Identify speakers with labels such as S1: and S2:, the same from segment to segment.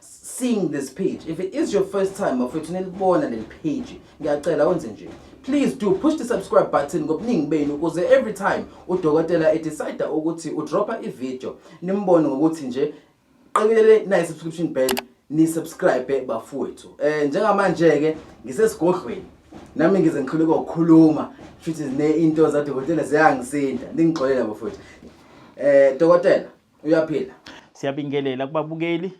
S1: seeing this page if it is your first time bafethu nilibona leli page ngiyacela wenze nje please do push the subscribe button ngobuningi benu ukuze every time udokotela edecide ukuthi udropha ivideo nimbone ngokuthi nje qekelele nayi subscription bell ni subscribe bafowethu eh njengamanje ke ngisesigodlweni nami ngize ngiqhuleka ukukhuluma futhi ne into zadokotela ziyangisinda ningixolela bafowethu eh dokotela uyaphila siyabingelela
S2: kubabukeli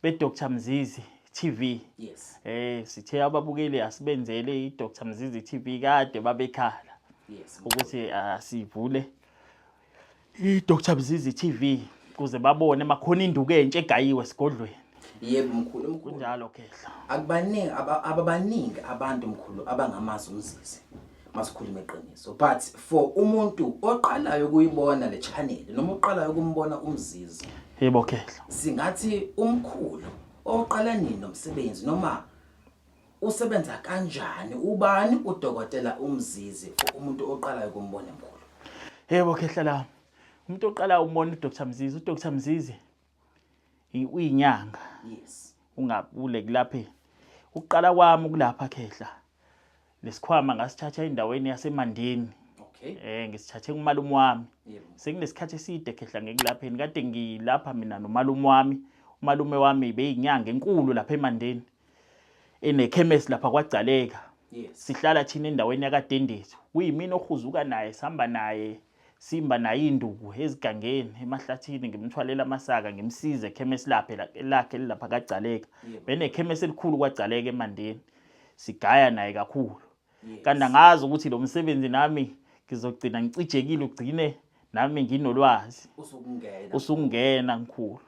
S2: beDr Mzizi TV yes eh
S1: sithe
S2: ababukeli asibenzele iDr Mzizi TV kade babekhala yes ukuthi
S1: asivule
S2: ah, iDr Mzizi TV kuze babone makhona induku entshe egayiwe sigodlweni yebo mkhulu mkhulu
S1: kunjalo khehla
S2: akubaningi
S1: ababaningi abantu mkhulu abangamazi umzizi masikhulume iqiniso but for umuntu oqalayo ukuyibona le channel noma oqalayo ukumbona umzizi yebo khehla
S2: singathi
S1: umkhulu oqala nini nomsebenzi noma usebenza kanjani ubani udokotela umzizi for umuntu oqalayo ukumbona mkhulu yebo khehla
S2: la umuntu oqalayo umbona uDr Mzizi uDr Mzizi uyinyanga yes
S1: ungabule
S2: kulaphe ukuqala kwami ukulapha khehla lesikhwama ngasithatha endaweni yasemandeni okay eh
S1: ngisithathe kumalume
S2: wami yebo senginesikhathi
S1: eside
S2: khehla ngikulapheni kade ngilapha mina nomalume wami umalume wami beyinyanga enkulu lapha emandeni enekhemesi lapha kwagcaleka sihlala
S1: thina endaweni
S2: yakadendezi kuyimina ohuzuka naye sihamba naye simba naye induku ezigangeni emahlathini ngimthwalela amasaka ngimsize ekhemesi laphe lakhe lilapha kagcaleka benekhemesi elikhulu kwagcaleka emandeni sigaya naye kakhulu kanti angazi ukuthi lo msebenzi nami ngizogcina ngicijekile ugcine nami nginolwazi usukungena ngikhulu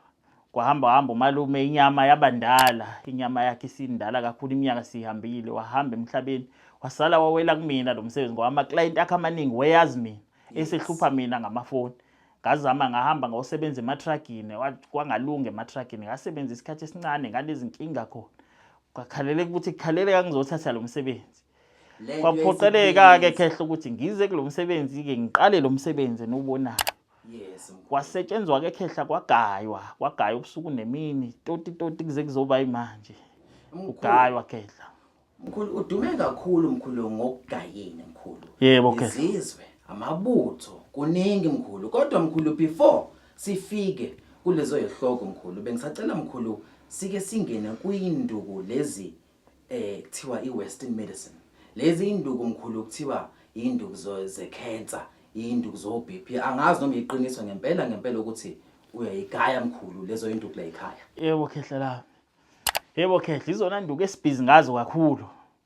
S2: kwahamba hamba umalume inyama yabandala inyama yakhe isindala kakhulu iminyaka sihambile wahamba emhlabeni wasala wawela kumina lo msebenzi ngoba ama-client akhe amaningi weyazi mina esehlupha mina ngamafoni ngazama ngahamba ngawusebenza ematragini kwangalunga ematragini ngasebenza isikhathi esincane ngalezinkinga khona kwakhalele ukuthi kukhalele kangizothatha lo msebenzi kwaphoqeleka-ke khehla ukuthi ngize kulo msebenzi-ke ngiqale lo msebenzi eniwubonayo
S1: kwasetshenzwa-ke
S2: khehla kwagaywa kwagaywa ubusuku nemini toti toti kuze kuzoba yimanje kugaywa khehla mkhulu udume
S1: kakhulu mkhulu ngokugayeni mkhulu yebo khehla izizwe
S2: amabutho
S1: kuningi mkhulu kodwa mkhulu before Sifike kulezo yehloko mkhulu bengisacela mkhulu sike singene kuyinduku lezi eh kuthiwa iwestern medicine lezi induku mkhulu kuthiwa induku ze cancer induku zo BP angazi noma iqiniso ngempela ngempela ukuthi uyayigaya mkhulu lezo induku la ekhaya yebo khehla la
S2: yebo khehla izona induku esibhizi ngazo kakhulu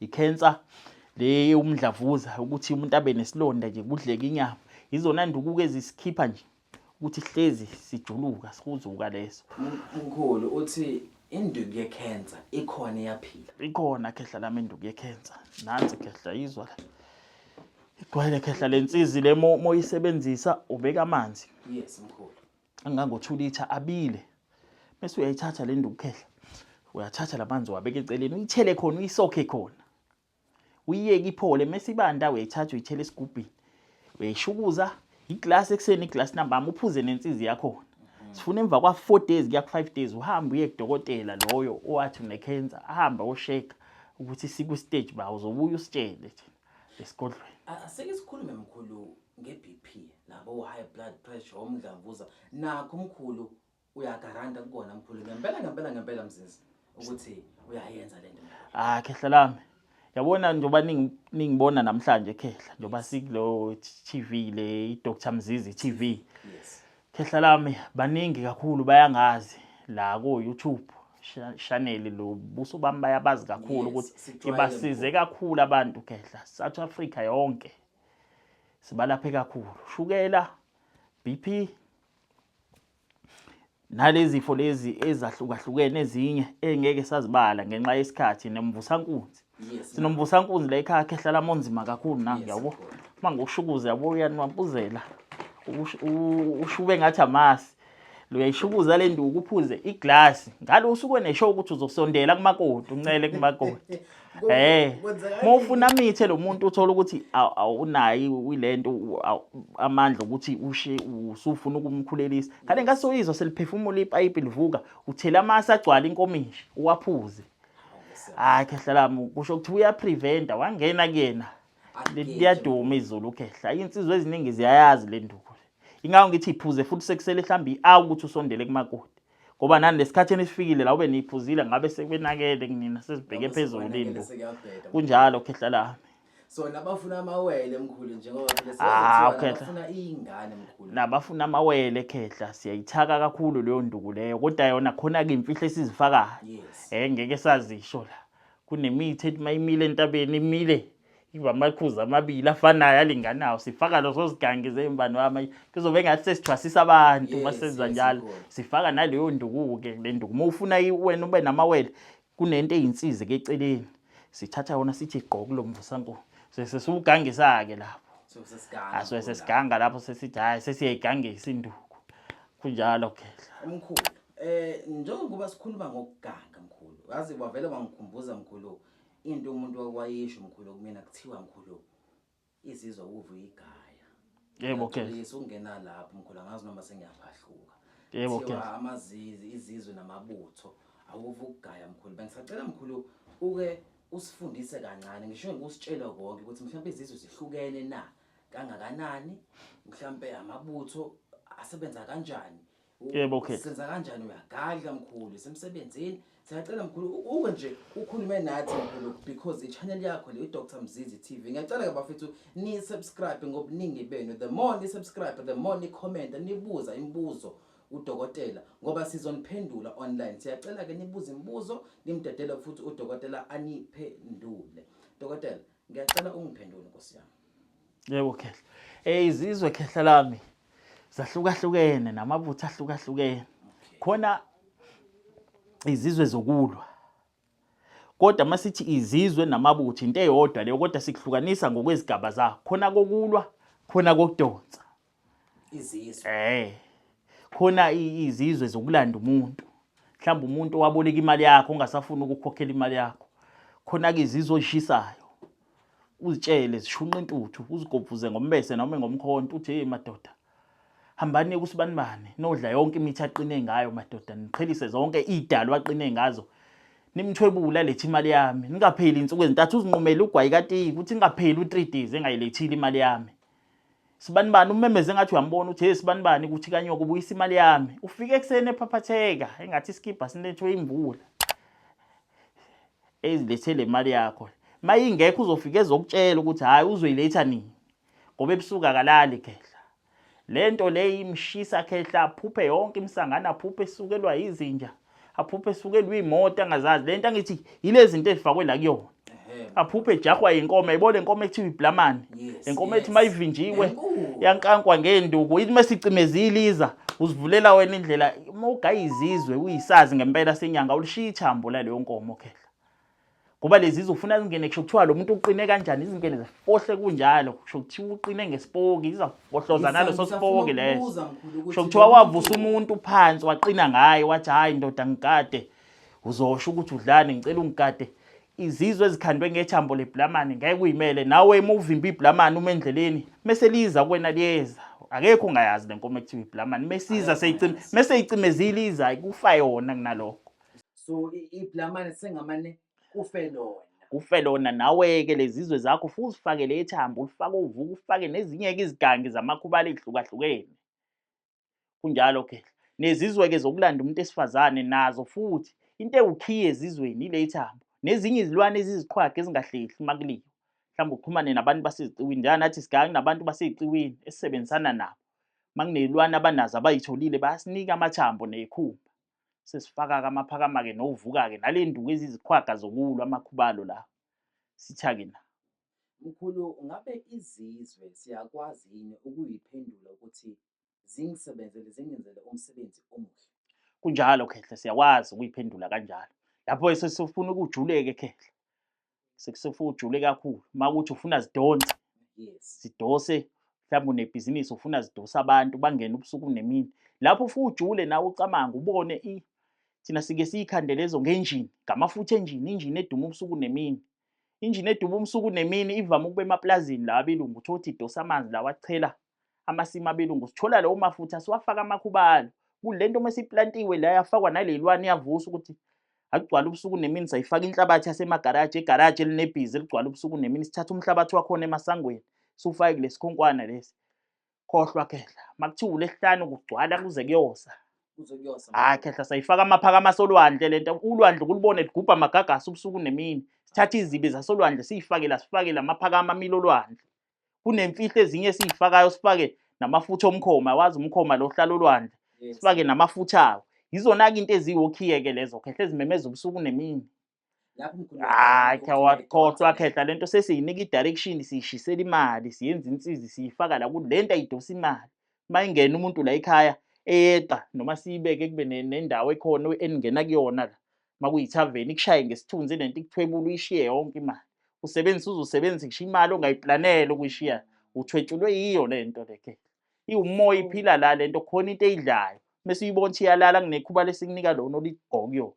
S2: I-cancer le umdlavuza ukuthi umuntu abe nesilonda nje kudleke inyama yizona ndukuko ezisikhipha nje ukuthi hlezi sijuluka sihuzuka leso mkhulu
S1: uthi induku yekhensa ikhona iyaphila ikhona khehla lami
S2: induku yekhensa nansi khehla yizwa la igwele khehla lensizi le moyisebenzisa ubeka amanzi yes mkhulu
S1: angango-2 litha
S2: abile bese uyayithatha le ndukukhehla uyathatha lamanzi wabeke eceleni uyithele khona uyisokhe khona uyiyeke iphole mese ibanda uyayithatha uyithele esigubhini uyayishukuza iglasi ekuseni iglasi nambama uphuze nensizi yakhona sifuna emva kwa-four days kuya ku-five days uhambe uye kudokotela loyo owathi unekhensa ahambe osheka ukuthi siku-stage ba uzobuye usitshele thina esigodlweni asike sikhulume
S1: mkhulu nge-bp nabo high blood pressure omdlavuza nakho mkhulu uyagaranta kukona mkhulu ngempela ngempela ngempela mzizi
S2: ukuthi
S1: uyayenza le nto ah
S2: khehla
S1: lami
S2: yabona njengoba ningibona namhlanje khehla njengoba sikulo TV le iDr Mzizi TV yes
S1: Khehla lami
S2: baningi kakhulu bayangazi la ko YouTube shaneli lo buso bami bayabazi kakhulu ukuthi ibasize
S1: kakhulu
S2: abantu khehla South Africa yonke sibalaphe kakhulu shukela BP nalezifo lezi ezahlukahlukene ezinye engeke sazibala ngenxa yesikhathi nemvusankunzi sinomvusankunzi
S1: la ekhaya
S2: khe hlala monzima kakhulu na ngiyabo uma ngiwushukuze
S1: yabo
S2: uyaniwampuzela ushube ngathi amasi luyayishukuza le nduku uphuze iglasi ngalo usuke nesho ukuthi uzosondela kumakoti uncele kumakoti Eh. Uma ufuna amithe lo muntu uthola ukuthi awunayi wilento amandla ukuthi ushe usufuna ukumkhulelisa. Kale ngasoyizwa seliphefumula ipipe livuka uthela amasa agcwala inkomishi uwaphuze. hayi khehla lami kusho ukuthi uyapreventa wangena kuyena liyaduma izulu khehla insizwa eziningi ziyayazi le nduku ingakho ngithi iphuze futhi sekusele mhlawumbe i-awu ukuthi usondele kumakoti ngoba nani lesikhathini esifikile la ube niyiphuzile ngabe sekwenakele kunina sesibheke phezulu into kunjalo khehla lami sona
S1: bafuna amawele mkhulu njengoba ah, bafuna
S2: iy'ngane
S1: mkhulu nabafuna amawele
S2: khehla siyayithaka kakhulu leyo nduku leyo kodwa yona khona-ke imfihlo esizifakayo yes. um ngeke
S1: sazisho
S2: la kunemithi ethi uma imile entabeni imile iba amaqhuza amabili afanayo alinganayo sifaka lezo zigangi zey'mbani wami kuzobe ngathi sesithwasisa abantu uma senza njalo sifaka naleyo nduku-ke le nduku uma ufuna wena ube namawele Kunento eyinsizi ke eceleni. Sithatha yona sithi gqo kulomvusankulu. Sesiwugangisa ke lapho. So sesiganga. Aswe
S1: sesiganga lapho sesithi
S2: hayi sesiyayigangisa induku. Kunjalo ke. Mkhulu,
S1: eh njengoba sikhuluma ngokuganga mkhulu, wazi wavele wangikhumbuza mkhulu into umuntu wakwayisho mkhulu kumina kuthiwa mkhulu Izizwa ukuva uyigaya. Yebo ke.
S2: Ngiyacebisa ukungena lapho
S1: mkhulu angazi noma sengiyaphahluka. Yebo ke. Kuthiwa
S2: amazizi izizwe
S1: namabutho awuve ukugaya mkhulu. Bengisacela mkhulu uke usifundise kancane ngisho ngikusitshela konke ukuthi mhlawumbe izizwe zihlukene na kangakanani mhlawumbe amabutho asebenza kanjani Yebo okay.
S2: Senza kanjani uyagadla
S1: mkhulu semsebenzini siyacela mkhulu uke nje ukhulume nathi mkhulu because ichannel yakho le Dr Mzizi TV ngiyacela ke bafethu ni subscribe ngobuningi benu the more ni subscribe the more ni comment nibuza imibuzo udokotela ngoba sizoniphendula online siyacela ke nibuze imibuzo nimdedele futhi udokotela aniphendule dokotela Ngiyacela ungiphendule
S2: Nkosi yami. Yebo khehla. Eh izizwe khehla lami zahlukahlukene namabutho ahlukahlukene. Khona izizwe zokulwa. Kodwa masithi izizwe namabutho into eyodwa leyo kodwa sikuhlukanisa ngokwezigaba zakho. Khona kokulwa, khona kokudonsa. izizwe
S1: eh
S2: khona izizwe zokulanda umuntu mhlawumbe umuntu owaboleka imali yakho ongasafuni ukukhokhela imali yakho khona ke izizwe ozishisayo uzitshele zishunqa intuthu uzigobhuze ngombese noma ngomkhonto uthi hey madoda hambani kusibanibani nodla yonke imithi aqine ngayo madoda niqhelise zonke idalo aqine ngazo nimthwebula lethi imali yami ningapheli insuku ezintathu uzinqumele ugwayi katiki ukuthi ningapheli u3 days engayilethile imali yami sibanibani umemeze engathi uyambona uthi hey sibanibani kuthi kanyoko ubuyisa imali yami ufike ekuseni ephaphatheka engathi isikibha sinethwe imvula ezilethele imali yakho mayingekho uzofika ezokutshela ukuthi hayi uzoyiletha nini ngoba ebusuku akalali khehla le nto le imshisa khehla aphuphe yonke imisangano aphuphe esukelwa yizinja aphuphe esukelwe iy'moto angazazi le nto angithi yile zinto ezifakwe la kuyona aphuphe ejahwa yinkomo yayibona le nkomo ekuthiwa iblamane le nkomo ethi uma ivinjiwe yankankwa ngeenduku ithi uma sicimezile iza uzivulela wena indlela uma ugayizizwe uyisazi ngempela senyanga ulishiya ithambo laleyo nkomo khehla ngoba lezi zofuna zingene kusho kuthiwa lo muntu uqine kanjani izingene zifohle kunjalo kusho kuthiwa uqine ngesipoki zizafohloza naleso sipoki leso kusho kuthiwa wavusa umuntu phansi waqina ngaye wathi hhayi ndoda ngigade uzosho ukuthi udlani ngicela ungigade izizwe ezikhandwe ngethambo leblamani ngeke uyimele nawe uma uvimba iblamani uma endleleni mese liza kuwena liyeza akekho ungayazi le nkomo ekuthiwa iblamani mesiza seyicime meseyicimezile iza kufa yona kunalokho so i-
S1: iblamane sengamane kufe lona
S2: kufe lona nawe-ke lezizwe zakho ufike uzifakele ethambo ulifake uvuka ufake nezinye-ke izigangi zamakhubala ey'hlukahlukene kunjalo ke nezizwe-ke zokulanda umuntu esifazane nazo futhi into ewukhiye ezizweni ile ithambo nezinye izilwane eziziqhwaga ezingahlehli uma kuliwa mhlawumbe uxhumane nabantu baseziciwini njenga nathi sigange nabantu basey'ciwini esisebenzisana nabo uma kuney'lwane abanazo abayitholile bayasinika amathambo ney'khumba sesifaka-ke amaphakama-ke novuka-ke nale nduku eziziqhwaga zokulwa amakhubalo la sitha-ke na mkhulu
S1: ngabe izizwe siyakwazi yini ukuyiphendula ukuthi zingisebenzele zingenzele umsebenzi omuhle kunjalo khehla
S2: siyakwazi ukuyiphendula kanjalo lapho esesifuna ukujuleke khehla sekusefuka ujule kakhulu uma ukuthi ufuna zidonse zidose
S1: mhlawumbe
S2: unebhizinisi ufuna zidose abantu bangene ubusuku nemini lapho ufuke ujule nawe ucamanga ubone i thina sike siyikhande lezo ngenjini ngamafutha enjini injini eduma ubusuku nemini injini eduma ubusuku nemini ivame ukuba emaplazini lawa abelungu uthi othi idosa amanzi lawa achela amasimu abelungu sithola lawo mafutha siwafaka amakhubalo kulento uma siplantiwe la yafakwa nalelwani yavusa ukuthi akugcwala ubusuku nemini sayifaka inhlabathi yasemagaraji egaraji elinebhizi eligcwala ubusuku nemini sithatha umhlabathi wakhona emasangweni siwufake kulesi khonkwana lesi khohlwa khehla makuthiwa ulesihlanu kugcwala kuze kuyosa hayi khehla sayifaka amaphakama asolwandle le nto ulwandle kulubone ligubha amagagasi ubusuku nemini sithatha izibi zasolwandle siyifakela sifakele amaphakama amile olwandle kunemfihlo ezinye esiyifakayo sifake namafutha omkhoma wazi umkhoma lo hlala olwandle sifake namafutha awo yizona-ke into eziwokhiye-ke lezo khehle ezimemeza ubusuku nemini
S1: hayi khawakhohlwa
S2: khehla le nto sesiyinika i-direction siyishisela imali siyenza insizi siyifaka la kuthi le nto ayidosa imali uma ingena umuntu la ekhaya eyeqa noma siyibeke kube nendawo ekhona eningena kuyona la makuyithaveni ikushaye ngesithunzi lento ikuthwebula uyishiye yonke imali usebenzisa uze usebenzise ngisho imali ongayiplanele ukuyishiya uthwetshulwe yiyo le nto leke iwumoya iphila la le nto khona into eyidlayo mese uyibona ukuthi iyalala kunekhuba lesikunika lona oligqokuyo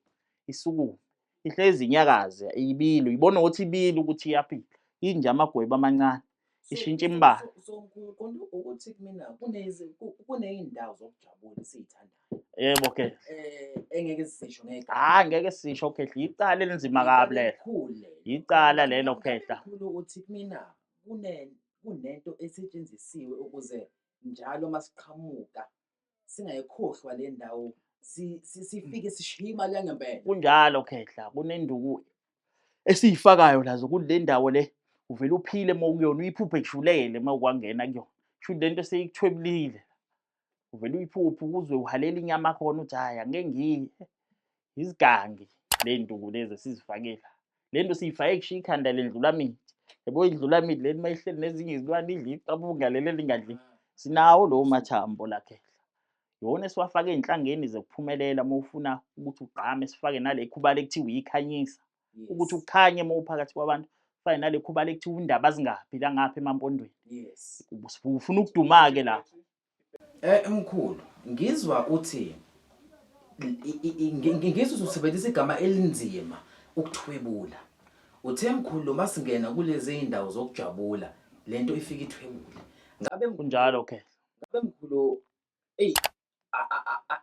S2: isukume ihlezi inyakaze ibili uyibona ukuthi ibili ukuthi iyaphila inje amagweba amancane ishintsha imbala
S1: ukuthi kumina kuney'ndawo zokujabula esiyithandayo yebo ke
S2: eh, engeke
S1: sisho ngeke hayi ngeke sisho
S2: ukhehla yicala elinzima kabi lelo yicala lelo khehla ukuthi kumina
S1: kunento esetshenzisiwe ukuze njalo masiqhamuka singayikhohlwa le ndawo si- si- sifike sishiye imali yangempela kunjalo khehla
S2: kunenduku esiyifakayo lazo ukuthi le ndawo le uvele uphile uma ukuyona uyiphuphe kujulele uma ukwangena kuyona shuthi le nto seyikuthwebulile uvele uyiphuphe ukuzwe uhalela inyama khona uthi hhayi angeke ngiye izigangi ley'nduku lezi esizifakile le nto siyifake kushiya ikhanda lendlulamithi yabo indlulamithi leni uma ihleli nezinye izilwane idla iqabuka leli elingadli sinawo lowo mathambo lakhehla yona esiwafake ey'nhlangeni zokuphumelela uma ufuna ukuthi ugqame sifake nale khuba lekuthiwa yikhanyisa ukuthi ukhanye uma uphakathi kwabantu fane nale khuba lekuthiwa undaba zingaphi langapha emampondweni
S1: ufuna
S2: ukuduma-ke lapho Eh
S1: mkhulu, ngizwa uthi ngizwe usebenzisa igama elinzima ukuthwebula. Uthe mkhulu uma singena kulezi zindawo zokujabula lento ifika ithwebule. Ngabe kunjalo ke.
S2: Ngabe mkhulu
S1: ey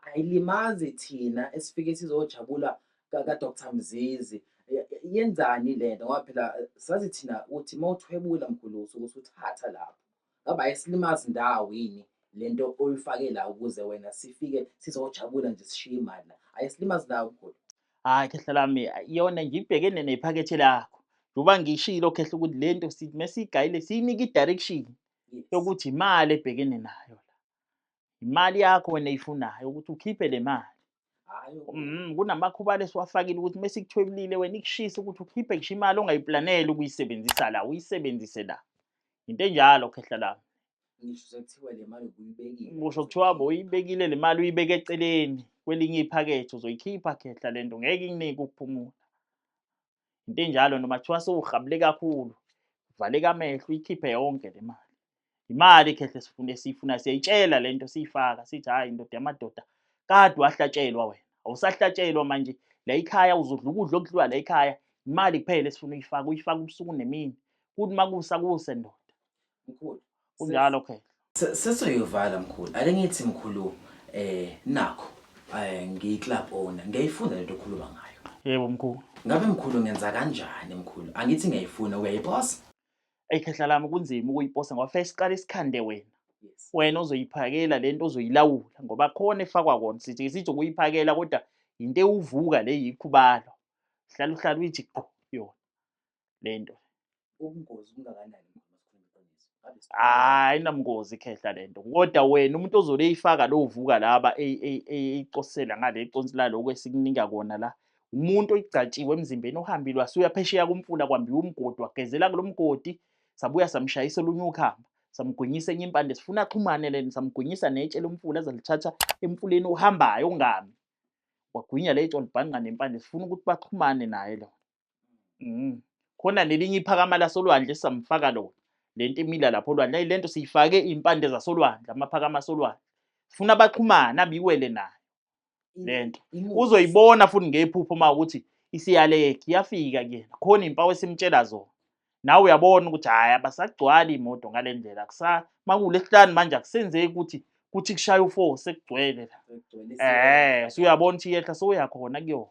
S1: ayilimazi thina esifike sizojabula ka Dr Mzizi. Yenzani lento ngoba phela sazi thina ukuthi mawuthwebula mkhulu usuke usuthatha lapho. Ngabe ayisilimazi ndawo yini le nto oyifake la ukuze wena sifike sizojabula nje sishiye imali la ayisilimazi ndawo mkhulu hhayi khehla lami
S2: yona nje ibhekene nephakethe lakho njengoba ngishilo khehla ukuthi le nto sithi mesiyigayile siyinike i-direction yokuthi imali ebhekene nayo la imali yakho wena ifunayo ukuthi ukhiphe le mali mm,
S1: kunamakhuba
S2: lesiwafakile ukuthi uma sikuthwebulile wena ikushise ukuthi ukhiphe kusho imali ongayiplanele ukuyisebenzisa la uyisebenzise la into enjalo khehla lami
S1: kusho kuthiwa
S2: boyibekile le mali uyibeke eceleni kwelinye iphakethe uzoyikhipha khehla le nto ngeke inike ukuphumula into enjalo noma kuthiwa sewuhabule kakhulu valeka amehlo uyikhiphe yonke le mali imali khehle sifuna esiyifuna siyayitshela le nto siyifaka sithi hhayi indoda yamadoda kade wahlatshelwa wena awusahlatshelwa manje la ikhaya uzodla ukudla okudliwa la ikhaya imali kuphela esifuna uyifaka uyifaka ubusuku nemini kuthi uma kusa kuse ndoda mkhulu
S1: kunjalo
S2: phela sesoyovala
S1: mkhulu ake ngithi mkhulu eh nakho eh ngiyiclub owner ngiyayifunda lento okhuluma ngayo yebo mkhulu
S2: ngabe mkhulu ngenza
S1: kanjani mkhulu angithi ngiyayifuna uyayiposa eyi khehla
S2: lami kunzima ukuyiposa ngoba fanele siqale isikhande wena wena
S1: ozoyiphakela
S2: lento ozoyilawula ngoba khona efakwa kona sithi sithi ukuyiphakela kodwa yinto ewuvuka le yikhubalo hlala uhlala uyithi qo yona lento ubungozi
S1: bungakanani hayi namngozi
S2: khehla lento kodwa wena umuntu ozole eyifaka lo uvuka laba eyicosela ngale iconsi lalo kwesikunika kona la umuntu oyigcatshiwe emzimbeni ohambile wasuya phesheya kumfula kwambiwa umgodi wagezela kulo mgodi sabuya samshayisa olunye ukhamba samgwinyisa enye impande sifuna axhumane leni samgwinyisa netshe lomfula azalithatha emfuleni ohambayo ongami wagwinya letshe olibhanqa nempande sifuna ukuthi baxhumane naye lona Mm. Khona nelinye iphakama lasolwandle samfaka lona. Lento imila lapho olwandle. Ayi lento siyifake impande zasolwandle, amaphakama asolwandle. Sifuna baxhumana biwele nayo lento. Uzoyibona futhi ngephupho uma ukuthi isiyaleke iyafika kuyena. Khona impawu esimtshela zona. Nawe uyabona ukuthi hayi abasagcwali imoto ngalendlela. Kusa makulesihlanu manje akusenzeki ukuthi kuthi kushaya u4 sekugcwele la. Eh, suyabona ukuthi yehla soyakhona kuyona.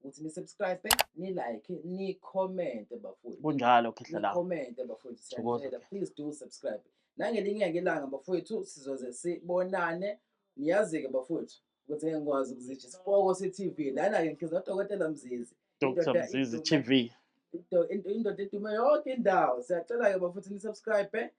S1: ukuthi ni subscribe ni like ni comment bafowethu kunjalo khehlela
S2: comment bafowethu siyacela
S1: please do subscribe nangelinye ngelanga bafowethu sizoze sibonane niyazi ke bafowethu ukuthi ngeke ngikwazi ukuzitsha isipoko se-tv lana-ke ngihliza udokotela mzizi
S2: dr mzizi tv indoda
S1: edume yonke indawo siyacela-ke bafowethu ni-subscribe